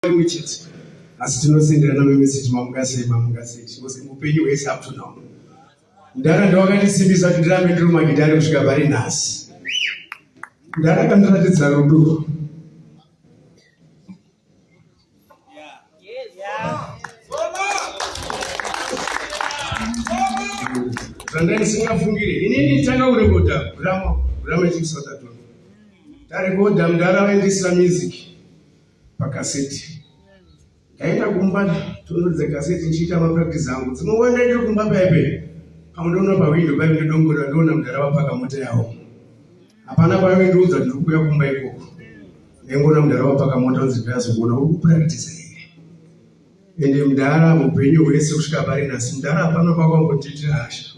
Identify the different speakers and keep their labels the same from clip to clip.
Speaker 1: chimwe chete asi tinosenderana memeseji mamungasei mamungasei because upenyu hwese up to now ndaranda wakandisimbisa kuti ndirambe ndiri mumagidhari kusvika pari nhasi ndaramba ndiratidza rudo zvanga ndisingafungire inini tanga kurekodha gurama gurama chimsatatono tarekodha mudhara vaindisira music pakaseti ndaenda kumba tonoridza kaseti ndichiita mapractice angu dzimwe nguva ndaitiri kumba paipe pamwe ndoona pawindo paive nedongora ndoona mudhara vapaka mota yavo hapana paive ndiudza ndiri kuuya kumba ikoko ndaingoona mudhara vapaka mota anzi ndirazokuona uri kupractice here ende mudhara mupenyu hwese kusvika pari nhasi mudhara hapana kwakwangotiitira hasha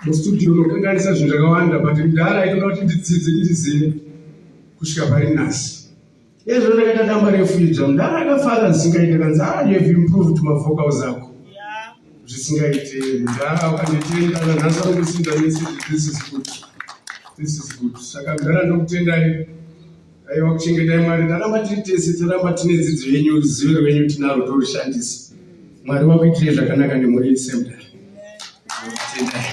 Speaker 1: mustudio unokanganisa zvinhu zvakawanda but mdara aitoda kuti ndidzidze ndizive kusvika pari nhasi ezvo ndakaita damba refu idzva mdara akafara zvisingaite kanzi ah you have improved mavocals ako zvisingaite mdara ukanditenda nanhasi anokusinda nese this is good this is good saka mdara ndokutendai aiwa kuchengetai mwari taramba tiri tese taramba tine dzidzo yenyu ruzivo rwenyu tinaro torushandisa mwari wakuitirei zvakanaka nemhuri yesemdar tendai